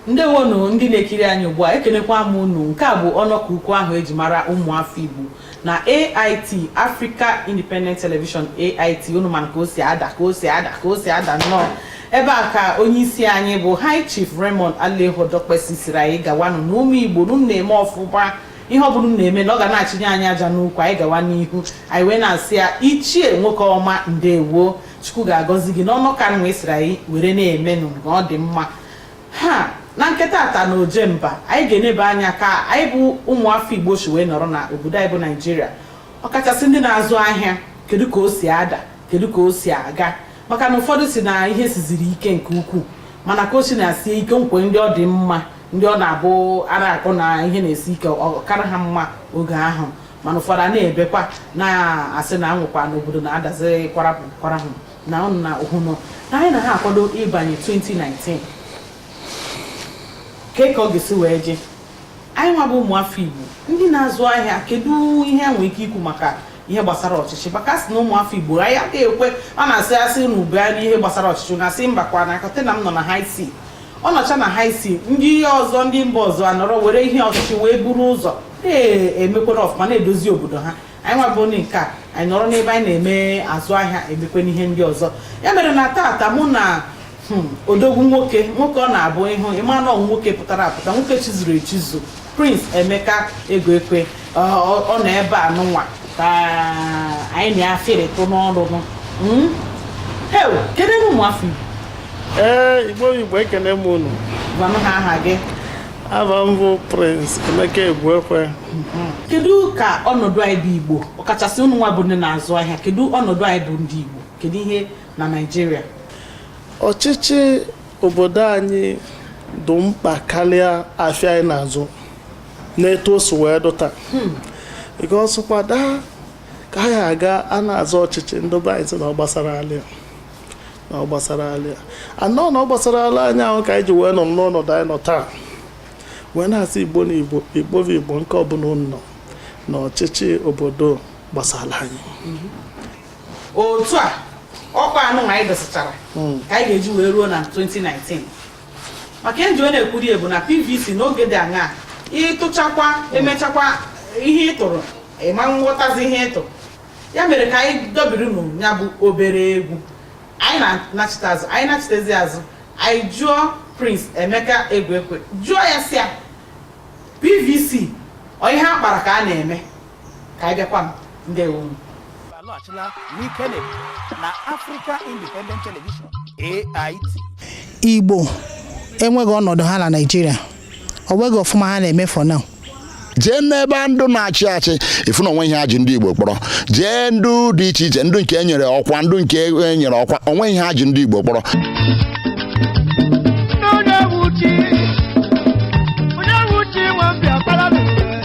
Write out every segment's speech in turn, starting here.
ndewonu ndị na-ekiri anyị ugbu a ekenekwa m unu nke a bụ ọnọkọ ukwu ahụ eji mara ụmụafọ Igbo na AIT Africa Independent Television AIT unu mana ka o si ada ka o si ada ka o si ada nnọọ ebe a ka onye isi anyị bụ High Chief Raymond Aleogho Dokpesi sịrị anyị gawanụ na ụmụ Igbo na unu na-eme ọfụma ihe ọ bụla unu na-eme na ọ ga na-achịnye anyị aja n'ukwu anyị gawa n'ihu anyị wee na-asị ya ichie nwoke ọma ndewo chukwu ga-agọzi gị n'ọnụ ka nwa ị sịrị anyị were na-emenụ nke ọ dị mma ha na nke taata na Ojemba anyị ga-enebe anya ka anyị bụ ụmụafọ igbo si wee nọrọ na obodo anyị bụ naijiria ọkachasị ndị na-azụ ahịa kedu ka o si ada kedu ka o si aga maka na ụfọdụ sị na ihe siziri ike nke ukwuu mana ka o si na-esi ike e nwe ndị ọ dị mma ndị ọ na-abụ a na-akọ na ihe na-esi ike ọ kara ha mma oge ahụ mana ụfọdụ ana-ebekwa na-asị na anwụkwa n'obodo na-adazi kwarapụ kwarahụ na unu na-ahụnụ na anyị na-akwado ịbanye 2019 kee ka ọ ga-esi wee je anyị nwa bụ ụmụafọ igbo ndị na-azụ ahịa kedu ihe e nwere ike ikwu maka ihe gbasara ọchịchị maka a sị na ụmụafọ igbo anyị agaghị ekwe a na-asị a sị nebe anya n'ihe gbasara ọchịchị na asị mba kwa na container m nọ na high sea ọ nọcha na high sea ndị ọzọ ndị mba ọzọ anọrọ were ihe ọchịchị wee buru ụzọ na-emekwere ọfụma na-edozi obodo ha anyị nwa bụ ndị nke a anyị nọrọ n'ebe anyị na-eme azụ ahịa emekwanụ ihe ndị ọzọ ya mere na taata mụ na hmm, odogwu nwoke nwoke ọ na-abụ ị hụ ị ma na nwoke pụtara apụta nwoke chizuru echizu Prince Emeka Egwuekwe ọ ọ- ọ nọ ebe a nụnwa ka anyị na ya fịrịtụ n'ọrụ nụ Mm? Heu, kenenụ ụmụ afọ Igbo ee igbo igbo ekene m unu gwanụ ha aha gị afa m bụ prince emeka egwuekwe kedu ka ọnọdụ anyị bụ Igbo ọkachasị unu nwa bụ ndị na-azụ ahịa kedu ọnọdụ anyị bụ ndị Igbo kedu ihe na Naịjirịa ọchịchị obodo anyị dị mkpa karịa afịa anyị na-azụ n'etu o si wee dị taa hmm. ọsụkwada ka anyị aga a na-azọ ọchịchị ndị be anyị sị na ọ gbasara alịa na ọ gbasara alịa anọ na ọ gbasara ala anyị ahụ ka anyị ji wee nọ n'ọnọdụ anyị nọ taa wee na-asị igbo na igbo igbo bụ igbo nke ọbụla unu nọ na ọchịchị obodo gbasara anyị hmm. otu a ọkwa anụ anyị dosịchara hmm. ka anyị ga-eji wee ruo na 2019 maka eji wee na-ekwuri ebu na PVC n'oge dị aṅaa ị tụchakwa emechakwa ihe ị tụrụ ị ma aghọtazi ihe ị tụ ya mere ka anyị dọbiri nụ ya bụ obere egwu anyị na-anachite azụ anyị nachitezi azụ anyị jụọ Prince Emeka Egwuekwe jụọ ya sị ya PVC ọ ihe a kpara ka a na-eme ka anyị bịakwa m ndewo unu alọghachila n'ikene na Africa Independent Television AIT igbo enweghị ọnọdụ ha na naijiria o nweghị ọfụma ha na-eme for now jee n'ebe ndị na-achị achị ị fụ na o nwee ihe ha ji ndị igbo kpọrọ jee ndị dị iche iche ndị nke e nyere ọkwa ndị nke e nyere ọkwa o nwee ihe ha ji ndị igbo kpọrọ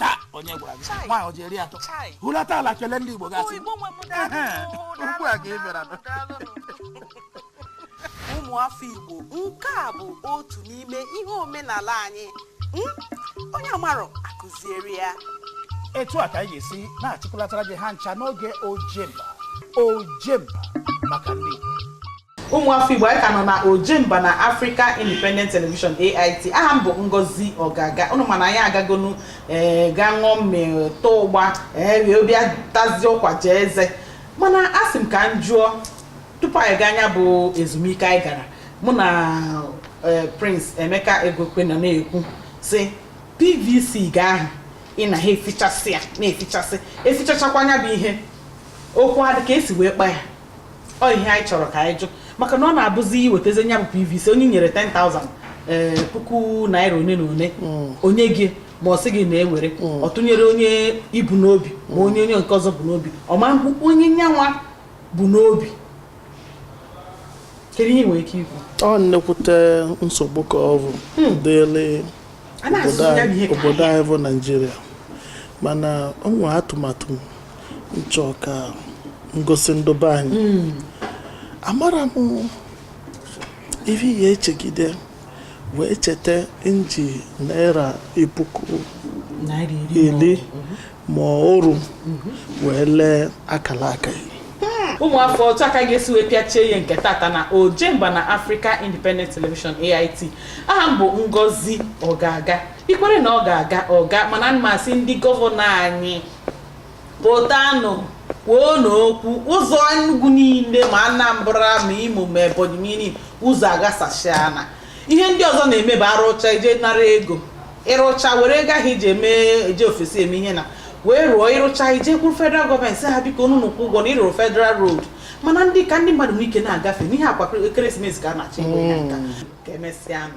taa onye gwara gị nwaanyị o ji eri atọ hulata ala kele ndị Igbo gasị ugbu a ka ị bịara ụmụ afọ Igbo nke a bụ otu n'ime ihe omenala anyị hmm? onye amarọ a kụziere ya etu a ka anyị ga-esi na-achịkọlatara gị ha ncha n'oge ojemba ojemba maka ndị Igbo ụmụ afọ igbo anyị ka nọ na ojemba na africa independent television ait aha m bụ ngozi ọgaga unu ma na anyị agagonu ee gaa ṅụọ mmiri taa ụgba ee wee bịa tazie ụkwa jaa eze mana asị m ka m jụọ tupu anyị gaa nya bụ ezumike anyị gara mụ na ee, prince emeka egwuekwe nọ na-ekwu sị pvc gị ahụ ị na ha efichasị ya na-efichasị efichachakwa anya bụ ihe okwu ha dị ka e si wee kpa ya ọ ihe anyị chọrọ ka anyị jụọ maka na ọ na-abụzi i wetazie nya bụ PVC onye nyere 10,000 ee eh, puku naira one na one hmm. o nye gị ma ọ sị gị na-ewere hmm. ọ tụnyere onye i bu n'obi ma onye onye nke ọzọ bu n'obi ọ manụ onye nyanwa bu n'obi kedu ihe i nwere ike ikwu ọ nnekwute nsogbu ka ọ bụ hmm. dịrị obodo anyị bụ naijiria mana o nwere atụmatụ m chọ ka m gosi ndị be anyị hmm. amarọ m ihe ị ya-echegide wee cheta iji naira puku iri ma oru wee lee akara aka ya ụmụafọ otu a ka a ga-esi wee pịachie ihe nke tata na ojemba na Africa Independent Television AIT aha m bụ Ngozi Ogaga i kwere na ọ ga-aga ọ gaa mana mụ asị ndị gọvanọ anyị pụtanụ kwuonụ okwu ụzọ Enugu niile ma Anambra ma Imo ma Ebonyi niile ụzọ aghasachana ihe ndị ọzọ na-eme bụ a rụcha i jee nara ego ị rụcha were ego ahụ i ji eme eje ofesi eme ihe na wee rụọ ị rụcha i jekwuru federal gọọmenti sị ha biko unu kwụọ ụgwọ na ị rụrụ federal road mana ndị ka ndị mmadụ nwee ike na-agafe n'ihi ọkwa ekeresimesi ka a na-achọ ego ya nka ka e mesịanụ